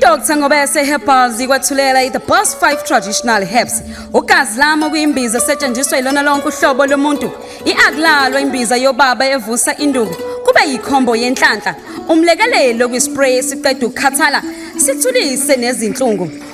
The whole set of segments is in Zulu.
Dr Ngobese Herbals ikwathulela i-The Boss 5 Traditional Herbs. Ugazi lami okuyimbiza esetshenziswa ilona lonke uhlobo lomuntu. I-akulalo imbiza yobaba evusa induku. Kube yikhombo yenhlanhla. Umlekelelo kwispray esiqeda ukukhathala sithulise nezinhlungu.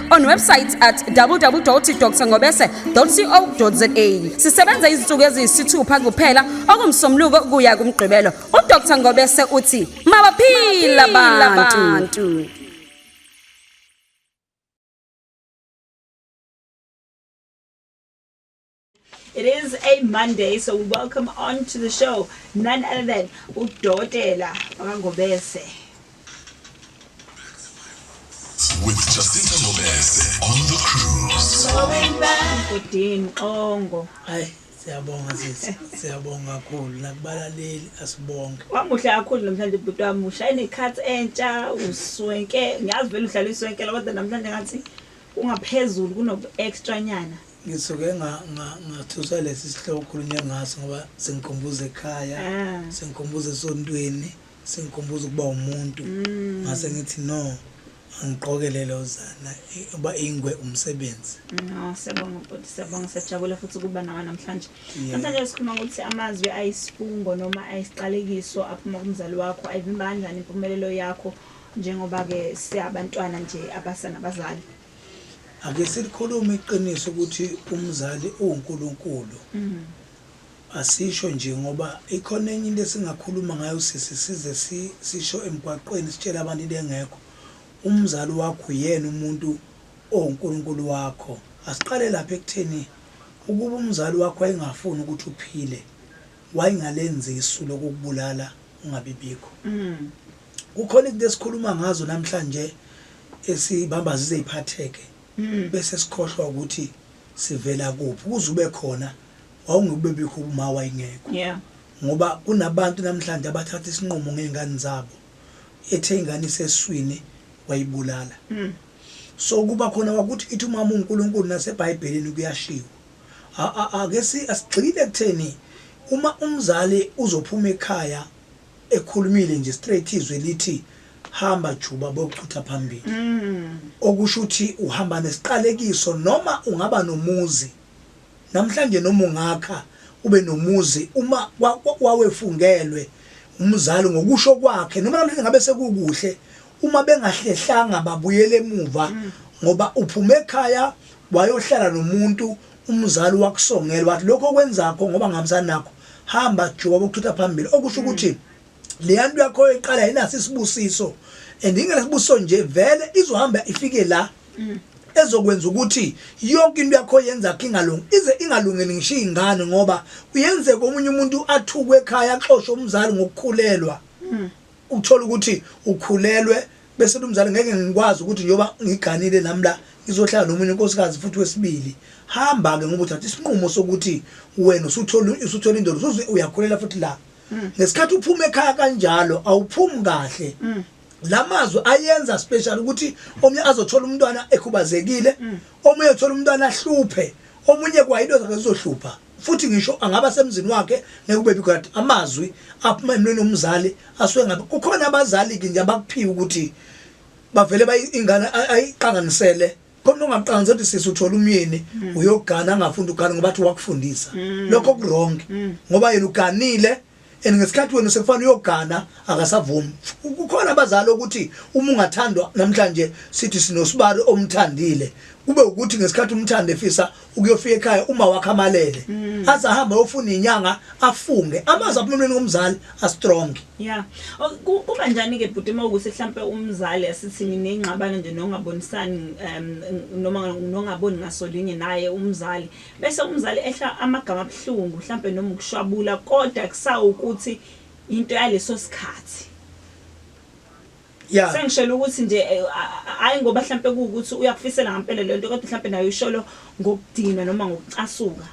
on website at www.drngobese.co.za sisebenza izinsuku eziyisithupha kuphela okumsomluko kuya kumgqibelo udr ngobese uthi mabaphila abantu It is a Monday, so we welcome on to the show none other than Udotela Ngobese. With Jacinta Ngobese on the cruise. Udin Ongo. Hi. siyabonga sisi siyabonga kakhulu nakubalaleli asibonge wamuhle kakhulu namhlanje bhuti wami ushaya nekhathi entsha uswenke ngiyazi vele uhlala iswenkela kodwa namhlanje ngathi ungaphezulu kunobu-extra nyana ngisuke ngathusa lesi sihloko okhulunywe ngaso ngoba singikhumbuza ekhaya ah. singikhumbuza esontweni singikhumbuza ukuba umuntu mm. ngase ngithi no angigqoke lelo zana uba ingwe umsebenzi no siyabonga bhuti siyabonga siyajabula futhi ukuba nawe namhlanje namhlanje sikhuluma ngokuthi amazwi ayisifungo noma ayisiqalekiso aphuma kumzali wakho ayivimba kanjani impumelelo yakho njengoba-ke siyabantwana nje abasana bazali Ake silikhulume iqiniso ukuthi umzali uwuNkulunkulu. Mm. Asisho nje ngoba ikhona enye into esingakhuluma ngayo sisi size sisho emgwaqweni sitshela abantu into engekho. Umzali wakho uyena umuntu owuNkulunkulu wakho. Asiqale lapha ekutheni ukuba umzali wakho wayengafuni ukuthi uphile wayengalenzi isu lokukubulala ungabibikho. Mm. kukhona izinto esikhuluma ngazo namhlanje esibamba zize iphatheke mm. bese sikhohlwa ukuthi sivela kuphi kuze ube khona wawungubebikho uma wayingekho yeah. ngoba kunabantu namhlanje abathatha isinqumo ngey'ngane zabo ethe ingane iseswini wayibulala mm. so kuba khona kwakuthi ithi umama unkulunkulu nasebhayibhelini kuyashiwo ake asigxile kutheni uma umzali uzophuma ekhaya ekhulumile nje straight izwi lithi hamba juba bokuchutha phambili mm. okusho ukuthi uhamba nesiqalekiso noma ungaba nomuzi namhlanje noma ungakha ube nomuzi uma wawefungelwe umzali ngokusho kwakhe noma namhlanje ngabe sekukuhle uma bengahlehlanga babuyele emuva mm. ngoba uphuma ekhaya wayohlala nomuntu umzali wakusongela wathi lokho kwenzakho ngoba ngihambisana nakho hamba juba bokuthutha phambili okusho hmm. ukuthi leya nto yakho oyiqala yinaso isibusiso and ingenasibusiso nje vele izohamba ifike la hmm. ezokwenza ukuthi yonke into yakho yenza khe ingalungi ize ingalungeli ngisho iy'ngane ngoba kuyenzeka omunye umuntu athukwe ekhaya axoshe umzali ngokukhulelwa hmm. ukuthola ukuthi ukhulelwe bese umzali ngeke ngikwazi ukuthi njengoba ngiganile nami la ngizohlala nomunye unkosikazi futhi wesibili hamba-ke ngoba uthatha isinqumo sokuthi wena usuthole usuthole indoda usuze uyakhulela futhi la mm. ngesikhathi uphuma ekhaya kanjalo awuphumi kahle mm. lamazwi ayenza special ukuthi omunye azothola umntwana ekhubazekile mm. omunye uthola umntwana ahluphe omunye kwayinto zakhe zizohlupha futhi ngisho angaba semzini wakhe ngeke ube bikade amazwi aphuma emlweni womzali asuke ngabe kukhona abazali ke nje abakuphiwa ukuthi bavele bayingane ayiqanganisele khona ungaqanzi ukuthi sisi uthola umyeni mm. uyogana angafunda ugana ngoba athi wakufundisa mm. lokho kuwrong mm. ngoba yena uganile and ngesikhathi wena sekufana uyogana akasavumi kukhona abazali ukuthi uma ungathandwa namhlanje sithi sinosibari omthandile kube ukuthi ngesikhathi umthanda efisa ukuyofika ekhaya uma wakhe amalele mm. aze ahambe ayofuna inyanga afunge amazi abumnweni komzali astrong yeah kuba njani ke bhuti uma ukuthi mhlambe umzali asithi ninengxabano nje nongabonisani um noma nongaboni ngasolinye naye umzali Bese umzali ehla amagama abuhlungu hlampe noma ukushwabula kodwa kusawukuthi into yaleso sikhathi. Yeah. Sengishela ukuthi nje eh, hayi ngoba hlampe kuukuthi uyakufisela ngempela lento kodwa hlampe nayo isholo ngokudina noma ngokucasuka.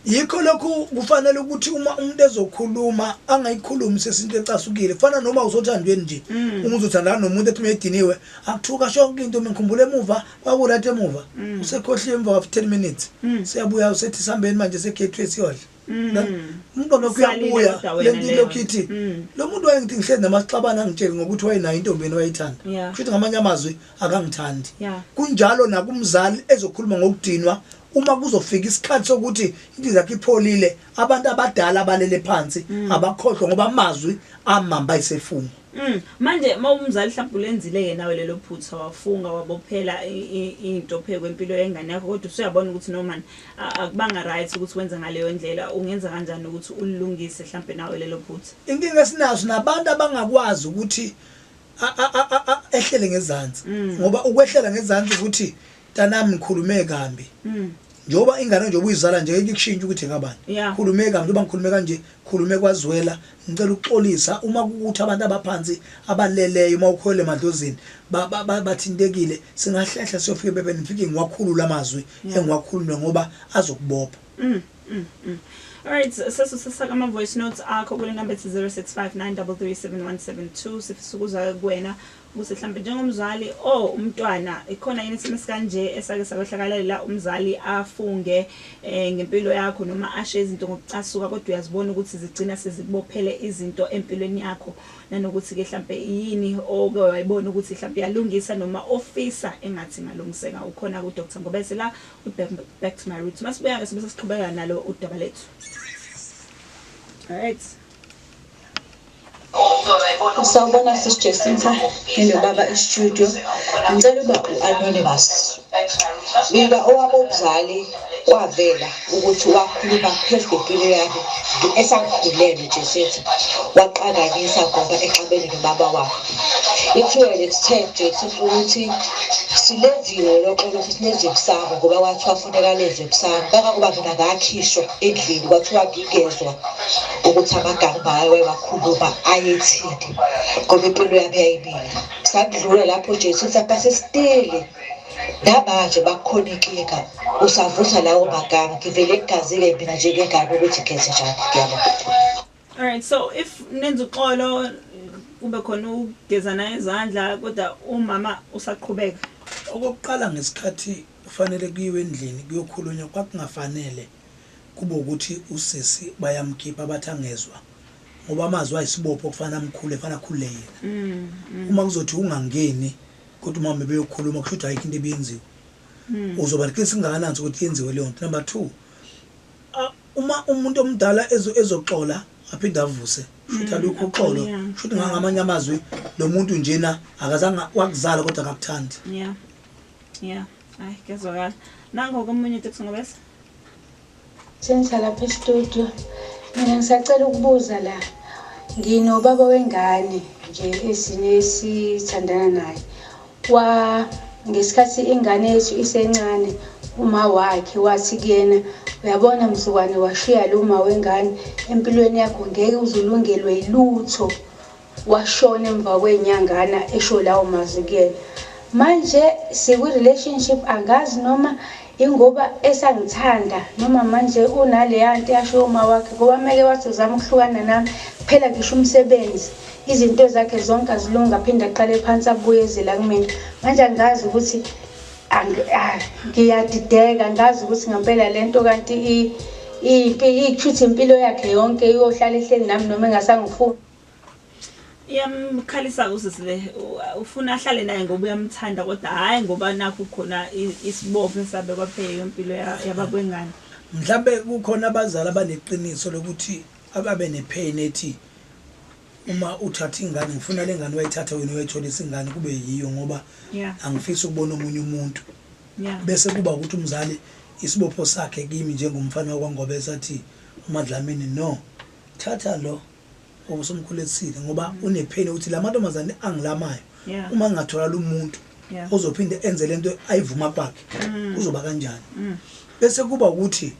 yikho lokhu kufanele ukuthi uma umuntu ezokhuluma angayikhulumi sesinto ecasukile kufana noma usothandweni nje mm. umuntu uzothandana nomuntu ethi uma ediniwe akuthuka shonke into mina ngikhumbula emuva kwakurat emuva mm. usekhohliwe emva kwafu 10 minutes mm. siyabuya usethi sihambeni manje segateway siyodla mm. umqondo wakho uyabuya le nto ilokhu ithi lo muntu wayengithi ngihlezi namaxabana angitsheli ngokuthi wayenayo intombeni wayethanda kusho ukuthi ngamanye amazwi akangithandi kunjalo nakumzali ezokhuluma ngokudinwa uma kuzofika isikhathi sokuthi into zakhe ipholile abantu abadala abalele phansi abakhohlwa ngoba amazwi amamba isefungo Mm. Manje mawumzali mhlawumbe ulenzile ke nawe lelo phutha wafunga wabophela into phekwe impilo yengane yakho kodwa usuyabona ukuthi no man akubanga right ukuthi wenze ngaleyo ndlela ungenza kanjani ukuthi ulilungise mhlawumbe nawe lelo phutha. Inkinga esinazo nabantu abangakwazi ukuthi ehlele ngezansi mm. ngoba ukwehlela ngezansi ukuthi Tanami ngikhulume kambi. Mm. Njoba ingane njoba uyizala nje ikushintsha ukuthi ngabani. Yeah. Khulume kambi njoba ngikhulume kanje, khulume kwazwela, ngicela ukuxolisa uma kukuthi abantu abaphansi abaleleyo uma ukhwele emadlozini ba- ba- ba- bathintekile singahlehla siyofika ebebeni ngifike ngiwakhulule amazwi Yeah. engiwakhulume ngoba azokubopha. Mm, mm, mm. Alright, sesu sisaka ama voice notes akho kule number ethi 0659337172 sifisa ukuza kuwena ukuthi mhlawumbe njengomzali o oh, umntwana ikhona yini isimo esikanje esake sakwehlakalela umzali afunge um ngempilo yakho noma ashe izinto ngokucasuka kodwa uyazibona ukuthi zigcina sezibophele izinto empilweni yakho nanokuthi-ke mhlawumbe yini oke wayibona ukuthi mhlawumbe iyalungisa noma ofisa engathi ingalungiseka ukhona ku-dr ngobese la back to my root masibuya-ke sibe sesiqhubeka nalo udaba lethu right Sawubona sis Jacinta ninobaba e-studio ngicela uba u-anonymous bika owabo mzali wavela ukuthi wakhuluma phezu kwempilo yakhe esakhulele Jacinta waqakanyisa ngoba exabene nobaba wakhe ithiwe lekuthe Jacinta ukuthi silenziwe loxolo ukuthi lenze kusama ngoba kwathiwa funeka lenze kusama kangangoba mina ngakhishwa endlini kwathiwa ngingezwa ukuthi amagama bawe wakhuluma ayethini ngoba impilo yami yayimile sakudlula lapho jesu uthi abasesiteli namanje bakhona inkinga usavusa lawo magama ngivele ngigazile mina njengengane ukuthi ngenze njani ngiyabona all right so if nenza uxolo kube khona ukugezana izandla kodwa umama usaqhubeka okokuqala ngesikhathi kufanele kuyiwe endlini kuyokhulunywa kwakungafanele Kube ukuthi usisi bayamkhipha bathi angezwa ngoba amazwi ayisibopho kufanele amkhule kufanele akhulule yena. Mm, mm. Uma kuzothi ungangeni kodwa uma bebeyokhuluma kusho ukuthi ayikho into ebiyenziwa. Mm. Uzoba liqiniso kungakanani ukuthi yenziwe leyo nto. Number 2 uma umuntu omdala ezoxola aphinde avuse shuthi mm, alukho uxolo shuthi ngangamanye amazwi lo muntu njena akazange wakuzala kodwa akakuthandi Yeah, hayi kuyazwakala. Nango komunye uTix ngobese. Senza lapha e-studio. Mina ngisacela ukubuza la. Nginobaba wengane nje esine esithandana naye. Wa ngesikhathi ingane yethu isencane uma wakhe wathi kuyena uyabona mzukwane washiya lo uma wengane empilweni yakho ngeke uzulungelwe yilutho Washona emva kwenyangana esho lawo mazwi kuyena. Manje sikwi relationship angazi noma ingoba esangithanda noma manje unaleya nto yasho uma wakhe ngoba meke wathi uzama ukuhlukana nami kuphela ngisho umsebenzi izinto zakhe zonke azilunga aphinde aqale phansi abuye ezela kumina manje angazi ukuthi ah, ngiyadideka ngazi ukuthi ngempela le nto kanti iyiphi iyikhuthi impilo yakhe yonke iyohlala ehleli nami noma engasangifuni iyamkhalisa usisi le ufuna ahlale naye ngoba uyamthanda kodwa hhayi ngoba nakho khona isibopho esabekwa phela yompilo yabakwengane mhlawumbe kukhona abazali abaneqiniso lokuthi ababe nepain ethi uma uthatha ingane ngifuna le ngane wayithatha wena wayitholisa ingane kube yiyo ngoba angifisi ukubona omunye umuntu bese kuba ukuthi umzali isibopho sakhe kimi njengomfana wakwangobe sathi umadlamini no thatha lo osomkhuletsile ngoba mm. unepheni ukuthi la mantombazane angilamayo yeah. uma ngingatholala umuntu yeah. ozophinde enze le nto ayivuma kwakhe mm. kuzoba kanjani mm. bese kuba ukuthi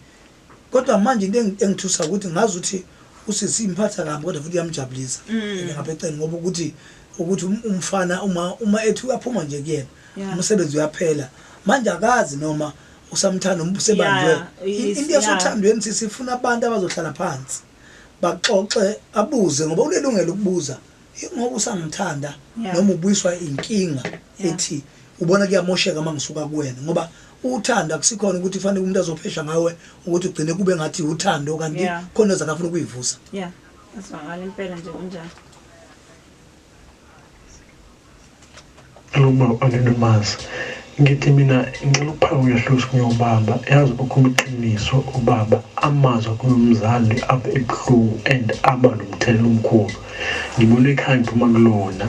kodwa manje into engithusa ukuthi ngazi ukuthi usisi imphatha kabi kodwa futhi yamjabulisa mm. ngapha eceleni ngoba ukuthi ukuthi um-, umfana uma uma ethi uyaphuma nje kuyena yeah. umsebenzi uyaphela manje akazi noma usamthanda umbusebanjwe yeah, into yasothandweni yeah. sisifuna abantu abazohlala phansi baxoxe abuze ngoba unelungelo ukubuza ingoba usangithanda yeah. noma ubuyiswa inkinga yeah. ethi ubona kuyamosheka uma ngisuka kuwena ngoba uthanda kusikhona ukuthi kufanele umuntu azophesha ngawe ukuthi ugcine kube ngathi uthando kanti yeah. khona ezakafuna ukuyivusa yeah asibangala impela nje kunjalo Luma angidumazi ngithi mina ngicela ukuphaka uyahlusa kuyobaba yazi ukhuluma iqiniso ubaba amazwi akhuluma umzali aba ebuhlungu and aba nomthelela omkhulu ngibona ekhaya ngiphuma kulona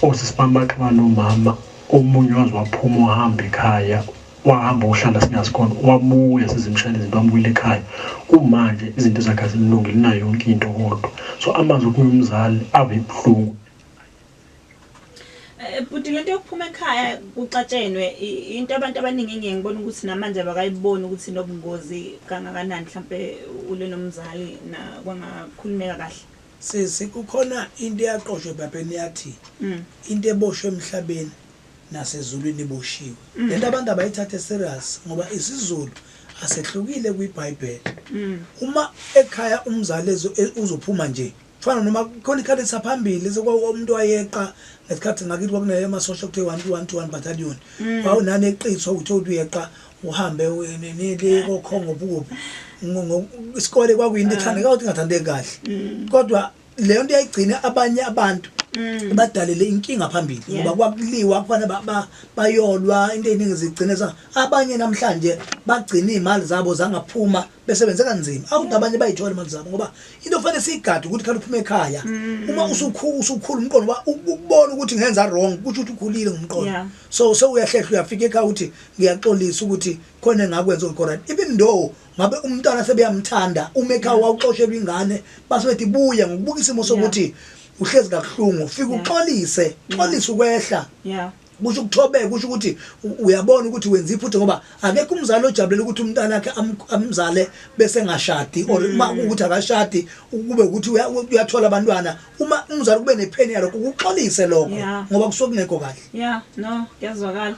osisi bami bathi banomama omunye waze waphuma uhamba ekhaya wahamba ohlala singazi khona wabuya sizimshayela izinto wamubuyela ekhaya kumanje izinto zakhe azimlungile nayo yonke into kodwa so amazwi okuye umzali ave ibuhlungu eh, bhuti lento yokuphuma ekhaya kucatshenwe into abantu abaningi engeke ngibona ukuthi namanje abakayiboni ukuthi nobungozi kangakanani mhlampe ule nomzali na kwangakhulumeka kahle sisi kukhona into eyaqoshwe ebhabheni yathi mm. into eboshwe emhlabeni nasezulwini iboshiwe mm. lento abantu abayithathe serious ngoba isizulu asehlukile kwiBhayibheli mm. uma ekhaya umzali e, uzophuma nje fana noma khona ikhadi lisaphambili umuntu wayeqa ngesikhathi ngakithi kwakunaye amasosha kuthiwa one one to one battalion mm. wawunani eqiswa ukuthi uthi uyeqa uhambe nile kokhongo bukuphi isikole kwakuyinto ethandeka ukuthi ingathandeki kahle kodwa leyo nto yayigcina abanye abantu mm. badalele inkinga phambili ngoba kwakuliwa kufanele bayolwa into eziningi zigcine za abanye namhlanje bagcina izimali zabo zangaphuma besebenze kanzima akuthi abanye bayithola imali zabo ngoba into fanele siyigade ukuthi khale uphuma ekhaya mm. uma usukhulu usukhulu umqondo ukubona ukuthi ngenza wrong kusho ukuthi ukhulile ngomqondo so sewuyahlehla uyafika ekhaya ukuthi ngiyaxolisa ukuthi khona engakwenza okhorayo even though ngabe umntwana sebeyamthanda umekha wawuxoshelwa ingane base bethi buye ngokubuka isimo sokuthi uhlezi kabuhlungu ufike uxolise xolise ukwehla yeah kusho ukuthobeka kusho ukuthi uyabona ukuthi wenza iphutha ngoba akekho umzali ojabulela ukuthi umntana wakhe amzale bese ngashadi or mm. uma ukuthi akashadi kube ukuthi uyathola abantwana uma umzali kube nepheni yalokho ukuxolise lokho ngoba kusuke kungekho kahle yeah no kuyazwakala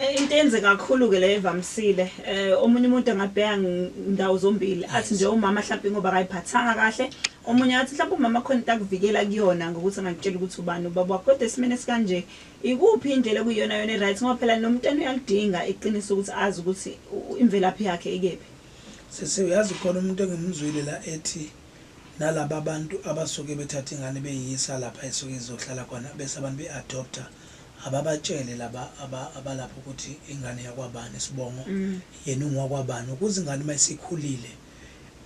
Eh, into enze kakhulu ke le evamisile eh omunye umuntu angabheka ndawo zombili athi nje umama mhlawumbe ngoba akayiphathanga kahle omunye athi mhlawumbe umama khona into akuvikela kuyona ngokuthi angakutshela ukuthi ubani ubaba wakho kodwa esimene sikanje ikuphi indlela kuyona yona right ngoba phela nomntana uyalidinga iqiniso ukuthi azi ukuthi imvelaphi yakhe ikephi sisi uyazi khona umuntu engimzwile la ethi nalabo abantu abasuke bethatha ingane beyiyisa lapha esuke izohlala khona bese abantu be-adopter Ababatshele laba aba abalapha ukuthi ingane yakwabani isibongo mm. yena ungowakwabani ukuze ingane uma isikhulile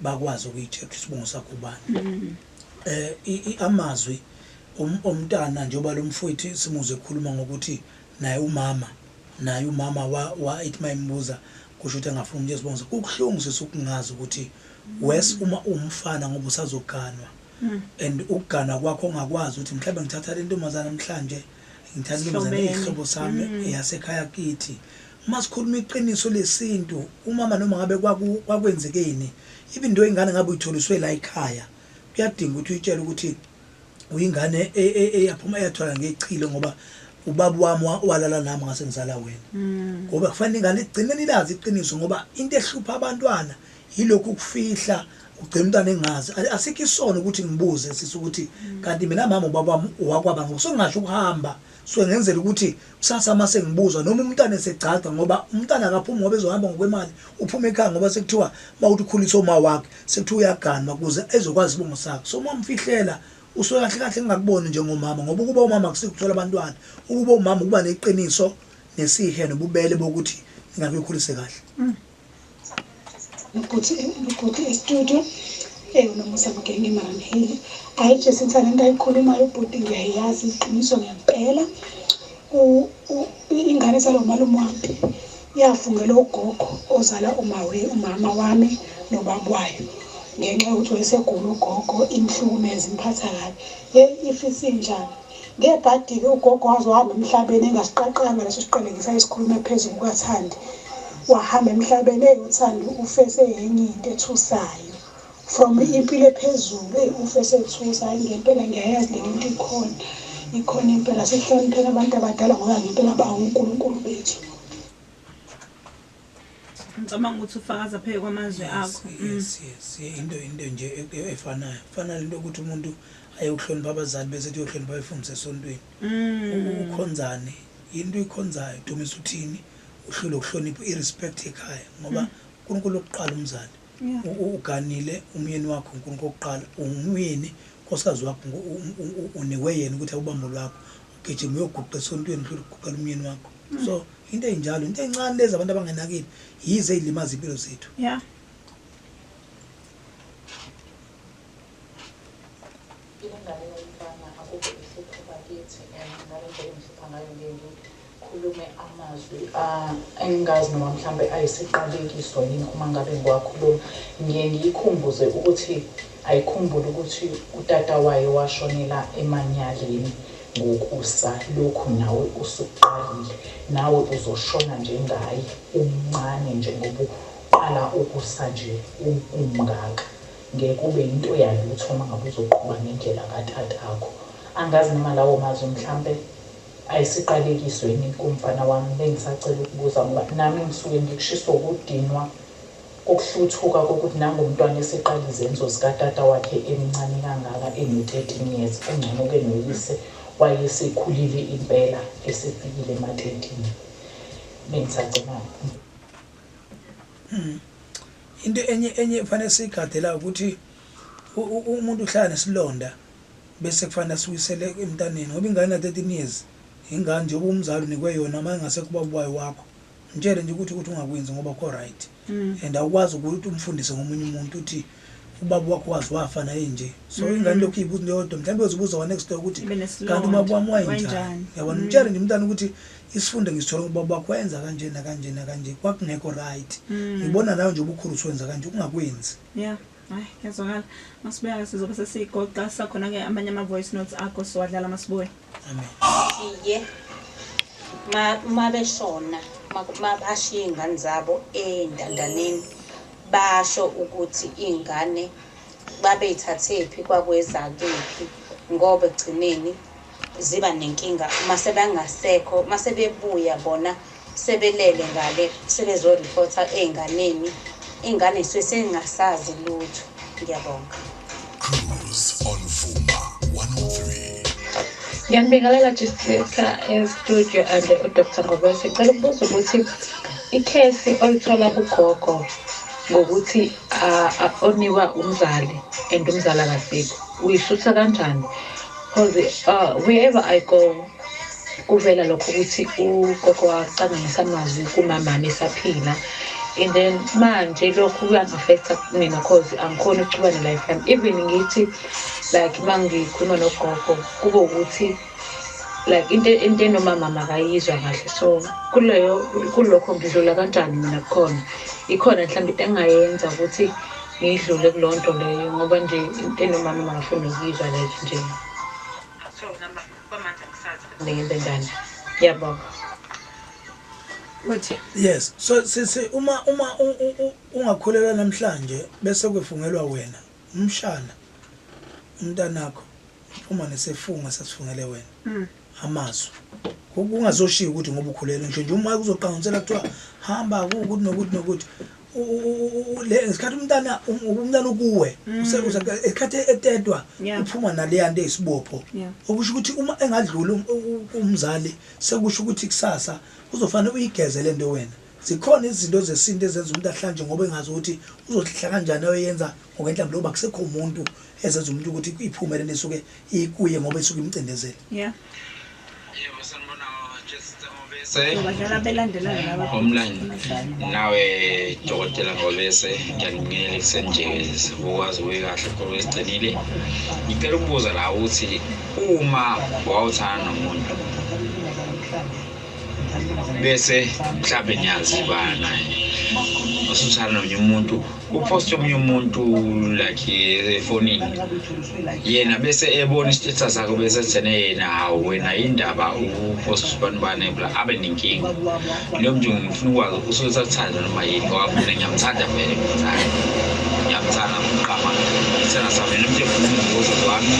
bakwazi ukuyitshela ukuthi isibongo sakho ubani. Mm. Eh amazwi um, omntana njengoba lo mfowethu simuzwe ekhuluma ngokuthi naye umama naye umama wa, wa ethi mayimbuza kusho ukuthi angafuni umuntu esibongo. Kubuhlungu sisukungazi ukuthi wes uma umfana ngoba usazoganwa. mm. and ukugana kwakho ongakwazi ukuthi mhlawumbe ngithatha le ntombazana namhlanje ngithatha intombazana eyihlobo sami mm. eyasekhaya kithi uma sikhuluma iqiniso lesintu umama noma ngabe kwakwenzekeni even into ingane ngabe uyitholiswe la ekhaya kuyadinga ukuthi uyitshele ukuthi uyingane e, e, eyaphuma eyathola ngechilo ngoba ubaba wami walala nami ngase ngizala wena mm. ngoba kufanele ingane igcine nilazi iqiniso ngoba into ehlupha abantwana yilokhu ukufihla ugcina umntwana engazi asikho isono ukuthi ngibuze sisi ukuthi kanti mina mama ubaba wakwaba ngoku sengingasho ukuhamba so ngenzela ukuthi kusasa uma sengibuzwa noma umntwana esegcagca ngoba umntwana akaphumi ngoba ezohamba ngokwemali uphuma ekhaya ngoba sekuthiwa uma uthi ukhulisa uma wakhe sekuthiwa uyaganwa kuze ezokwazi isibongo sakhe so uma umfihlela usuke kahle kahle ngingakuboni njengomama ngoba ukuba umama kusikuthola abantwana ukuba umama ukuba neqiniso nesihe nobubele bokuthi ngingakukhulise kahle mm. Luguti, Luguti estudio. Eyi unomusa mgenge maramheli. Ayi Jesu ngithanda into ayikhulumayo ubhuti ngiyayazi iqiniso ngempela. U- u- ingane zalo malume wami yafungela ugogo ozala umawe umama wami nobaba wayo ngenxa yokuthi wayesegula ugogo imhlukumeza imphatha kabi yeyi if isinjani Ngebhadi-ke ugogo waze wahamba emhlabeni engasiqaqanga leso siqalekisa esikhulume phezu kukathandi wahamba emhlabeni eyi uthandi ufe seyenye into ethusayo from impilo ephezulu eyi ufe sethusa hayi ngempela ngiyayazi leli nto ikhona ikhona impela sihloniphela abantu abadala ngoba ngempela bawunkulunkulu bethu ngicabanga ukuthi ufakaza pheke kwamazwi akho mm. into into nje e, e, efanayo fana lento yokuthi umuntu ayokuhlonipha abazali bese ethi uyohlonipha abefundisi esontweni mm. ukhonzane yinto uyikhonzayo dumisa uthini uhlule ukuhlonipha i-respect ekhaya ngoba mm. unkulunkulu okuqala umzali uganile umyeni wakho unkulunkulu okuqala ungumyeni nkosikazi wakho uniwe yena ukuthi awubambo lwakho ugijima uyoguqa esontweni uhlule ukuguqela umyeni wakho so into enjalo into encane lezi abantu abangenakile yize ilimaza impilo zethu yeah khulume amazwi ah, engingazi noma mhlawumbe ayisiqalekiso yini uma ngabe ngiwakhuluma ngiye ngiyikhumbuze ukuthi ayikhumbule ukuthi utata wayo washonela emanyaleni Ngokusa lokhu nawe usuqalile nawe uzoshona njengaye umncane nje ngoba uqala ukusa nje umngaka ngeke ube yinto yalutho uma ngabe uzoqhuba ngendlela katatakho angazi noma lawo mazwi mhlampe ayisiqalekiso yini kumfana wami bengisacela ukubuza ngoba nami ngisuke ngikushiswa ukudinwa Ukuhluthuka kokuthi nangu umntwana eseqala izenzo zikatata wakhe emncane kangaka eno 13 years kungcono ke noyise wayesekhulile impela esefikile ema 30 bengisagcinaphi. Hmm. into enye enye kufanele siyigade la ukuthi umuntu uhlala nesilonda bese kufanele asuyisele emntaneni ngoba ingane na 13 years ingane njengoba umzali unikwe yona uma ingase kuba ubayi wakho Mtshele nje ukuthi ukuthi ungakwenzi ngoba ko right. Mm. And awukwazi ukuthi umfundise ngomunye umuntu uthi ubaba wakho wazi wafa naye nje. So mm. ingane lokho ibuza into yodwa mhlawumbe uzibuza wa next door ukuthi kanti ubaba wami wayenjani. Yabona mm. mtshele nje umntana ukuthi isifunde ngisithola ubaba wakho wenza kanje na kanje na kanje kwakungekho right. Mm. Ngibona nayo nje ubukhulu uswenza kanje ungakwenzi. Yeah. hayi kuyazwakala masibuyake sizobe sesigoqa sakhona-ke amanye ama-voice notes akho siwadlala masibuye iye uma beshona uma bashiye iy'ngane zabo ey'ntandaneni basho ukuthi iy'ngane babeyithathephi kwakweza kephi ngoba ekugcineni ziba nenkinga uma sebengasekho uma sebebuya bona Sebelele ngale sebezo reporter eynganeni ingane sesengasazi lutho ngiyabonga. Cruise on Vuma 103. Ngiyanibingelela Jessica estudio and uDr Ngobese. Ngicela ukubuza ukuthi ikhesi olithola kugogo ngokuthi oniwa umzali and umzali akabheki uyishutha kanjani because uh, wherever i go kuvela lokho ukuthi ugogo wacangisa amazwi kumamami esaphila and then manje lokhu kuyangafektha mina cause angikhoni ukuchuba ne-life yami even ngithi like uma ngikhuluma nogogo kube ukuthi like into into enomama makayizwa kahle so kuleyo kulokho ngidlula kanjani mina kukhona ikhona mhlawumbe into engingayenza ukuthi ngidlule kulo nto leyo ngoba nje into enomama makafuni ukuyizwa like nje Bamanje akusazi kuningi bendana. Ngiyabonga. Uthi yes. So sisi uma uma ungakholelwa namhlanje bese kwefungelwa wena umshana umntanakho uma nesefunga sasifungele wena. Mm. Amazwi. Kungazoshiya ukuthi ngoba ukhulela nje nje uma kuzoqangqisela kuthiwa hamba ukuthi nokuthi nokuthi ngesikhathi umntana um, umntana ukuwe mm. esikhathi etedwa uphuma naleya nto eyisibopho okusho ukuthi uma engadluli um, umzali sekusho ukuthi kusasa uzofanele uyigeze le nto wena zikhona izinto zesintu ezenza umuntu ahlanje ngoba engazi ukuthi uzohlala kanjani oyenza ngokwenhlambi lokuba kusekho umuntu ezenza umuntu ukuthi iphumele nesuke ikuye ngoba isuke imcindezele homeland nawe dokotela ngobese ngiyanibingelela ekuseni nje ukwazi kuye kahle khona wesigcinile ngicela ukubuza la ukuthi uma wawuthana nomuntu bese mhlawumbe niyazibana usuthana nomunye umuntu uposte omunye umuntu like efonini yena bese ebona isithetha sakho bese ethene yena hawu wena yindaba uposte abantu bane bla abe nenkinga leyo mntu ngifuna ukwazi usuke sakuthanda noma yini ngoba mina ngiyamthanda vele mthanda ngiyamthanda mqama isithanda sami nomntu efuna umvuzo wami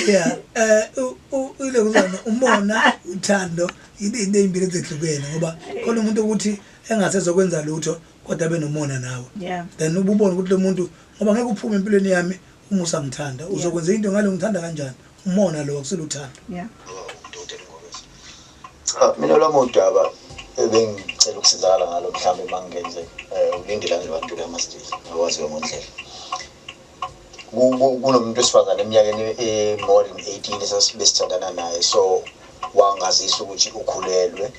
yeah um ile kuzona umona uthando yini into ezimbili ezehlukene ngoba khona umuntu ukuthi engasezokwenza lutho kodwa abe nomona nawe then ububona ukuthi lo muntu ngoba ngeke uphume empilweni yami uma usangithanda uzokwenza into ngalo ngithanda kanjani umona lo akuseluthando cha mina lami udaba ebengicela ukusizakala ngalo mhlawumbe uma ngingenze um ulindela nje abantu kulamasiteji akwaziwe ngondlela kunomuntu wesifazane eminyakeni e-more than 18 esasibesithandana naye so wangazisa ukuthi ukhulelwe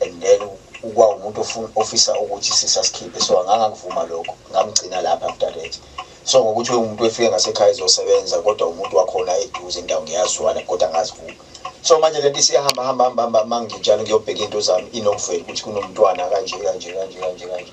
and then ukuba umuntu ofisa ukuthi sisasikhiphe so angangakuvuma lokho ngamgcina lapha after that so ngokuthi umuntu efike ngasekhaya ezosebenza kodwa umuntu wakhona eduze indawo ngiyazwana kodwa angazivumi so manje le nto isiyahamba hamba hamba hamba mangitshalo ngiyobheka into zami inokuvela ukuthi kunomntwana kanje kanje kanje kanje kanje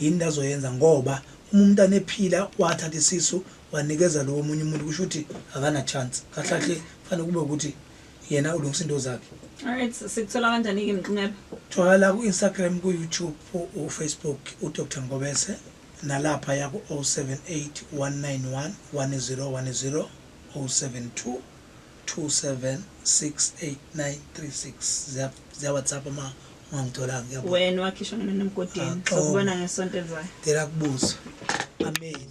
Yini into azoyenza ngoba uma umntana ephila wathatha isisu wanikeza lo omunye umuntu kusho ukuthi akana chance kahle kahle fanele kube ukuthi yena ulungisa into zakhe alright sikuthola kanjani ke mnqebe tholakala ku Instagram ku YouTube u Facebook u Dr Ngobese nalapha ya ku 078 191 1010 072 2768936 ziya WhatsApp uma ungangitholanga ngiyabonga. Wena wakhishwa ngemini emgodini. Sokubona ngesonto elizayo. Ngicela kubuza. Amen.